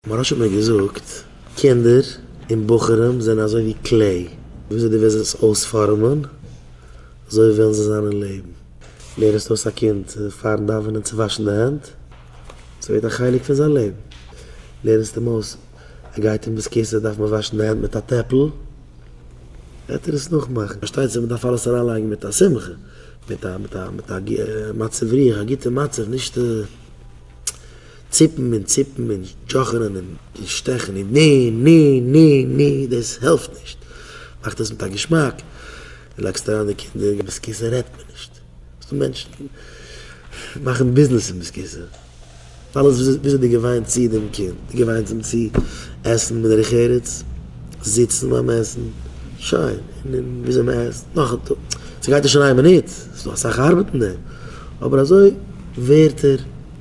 מוהראש האט מיר געזאגט, קינדער און בחורים זענען אזוי ווי קלעי, וויאזוי דו וועסט עס אויספארעמען, אזוי וועלן זיי זיין אין לעבן. לערנסט אויס א קינד פארן דאווענען צו וואשן די הענט, עס ווערט א חלק פון זיין לעבן. לערנסט אים אויס, ער גייט אין בית כסא דארף מען וואשן די הענט מיט א טעפל, וועט ער עס נאכמאכן. פארשטייט זיך מען דארף אלעס אריינלייגן מיט א שמחה, מיט א מצב רוח, א גוטע מצב, נישט. ציפן און ציפן און דזשאכענען און שטעכן און ני ני ני ני דאס העלפט נישט, מאך עס מיט א געשמאק און לאקסט אריין די קינדער און ביסקיסע רעדט מען נישט, ס'איז דא מענטשן מאכן ביזנעס פון ביסקיסע, אלעס וויאזוי דו געוויינט צו דעם קינד, דו געוויינטס אים צו עסן בדרך ארץ, זיצן ביים עסן, שוין, און וויאזוי מען עסט, נאך א טאג, ס'גייט נישט אין איין מינוט, ס'איז דא אסאך ארבעט אין דעם. אבער אזוי ווערט ער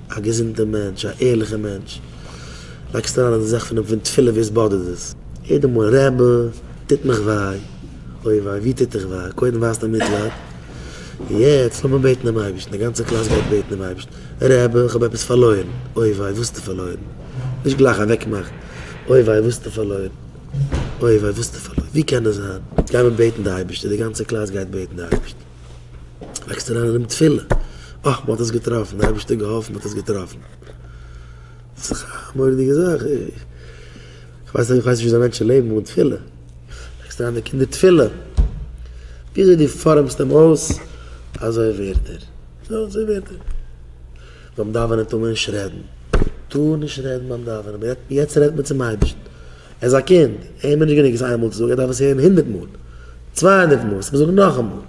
א געזונטער מענטש, א ערליכער מענטש, לייגסט אריין אין די זאך פון תפילה ווי עס באדערט עס יעדע מאל, רעבע טוט מיך וויי, אוי וויי ווי טוט דיך וויי, קודם ווייזט ער מיטלייד, און יעצט לאמיר בעטן דעם אייבערשטן, די גאנצע קלאס גייט בעטן דעם אייבערשטן, רעבע איך האב עפעס פארלוירן, אוי וויי וואס האסטו פארלוירן, נישט גלייך אוועק מאכן, אוי וויי וואס האסטו פארלוירן, אוי וויי וואס האסטו פארלוירן, ווי קען עס זיין, גיימיר בעטן די אייבערשטן, די גאנצע קלאס גייט בעטן די אייבערשטן. לייגסט אריין אינעם תפילה, אה, מען האט עס געטראפן, דער אייבערשטער האט געהאלפן מען האט עס געטראפן. דאס איז דאך א מורא'דיגע זאך. איך ווייס נישט וויאזוי מענטשן לעבן אן תפילה. לייגסט אריין די קינדער תפילה, וויאזוי דו פארעמסט אים אויס, אזוי ווערט ער. אזוי ווערט ער. ביים דאווענען טאר מען נישט רעדן. טאר נישט רעדן ביים דאווענען. יעצט רעדט מען צום אייבערשטן. ער איז א קינד, אים איז נישט גענוג עס איינמאל צו זאגן, ער דארף עס הערן הונדערט מאל, צוויי הונדערט מאל, עס מוז זאגן נאכאמאל, ווען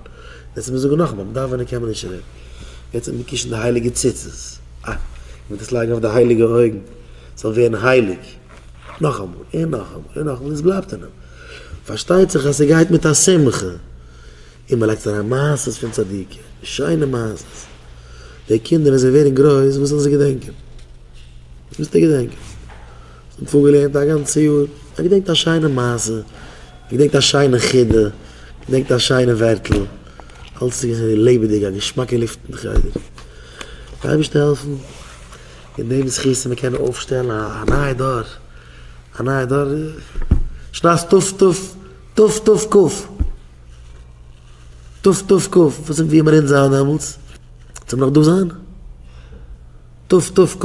עס מוז זאגן נאכאמאל, מען דארף ווען ער קען מען נישט רעדן, יעצט האט מען געקישן די הייליגע ציצית, אה, איך וועל דאס לייגן אויף די הייליגע אויגן, עס זאל ווערן הייליג, נאכאמאל און נאכאמאל און נאכאמאל, עס בלייבט אין אים, פארשטייט זיך אז עס גייט מיט א שמחה, און מען לייגט אריין מעשות פון צדיקים, שיינע מעשות, די קינדער ווען זיי ווערן גרויס וואס וועלן זיי געדענקען? וואס וועסטו געדענקען? כ'האב פארגעלערנט א גאנצע יאר. כ'געדענקט א שיינע מעשה. כ'געדענקט א שיינע חידה. כ'געדענקט א שיינע ווערטל. אלץ איז געווען לעבעדיג, א געשמאקע לופט אין חדר. די אייבערשטער העלפן מיט דעם זכות און מיר קענען אויפשטעלן א נייע דור. א נייע דור שנת תשפ ט, תשפ ט ק. תשפ ט ק. וואס און ווי האבן אונז זיין דעמאלטס? זאל מען נאך דא זיין? תשפ ט ק.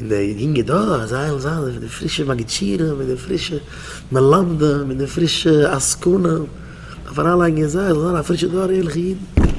און די יונגע דור אז זיי זאלן זיין אזוי ווי די פרישע מגידשירים און די פרישע מלמדים און די פרישע עסקנים, דארף אריינלייגן אין זיי זיי זאלן זיין א פרישע דור ערליכע אידן.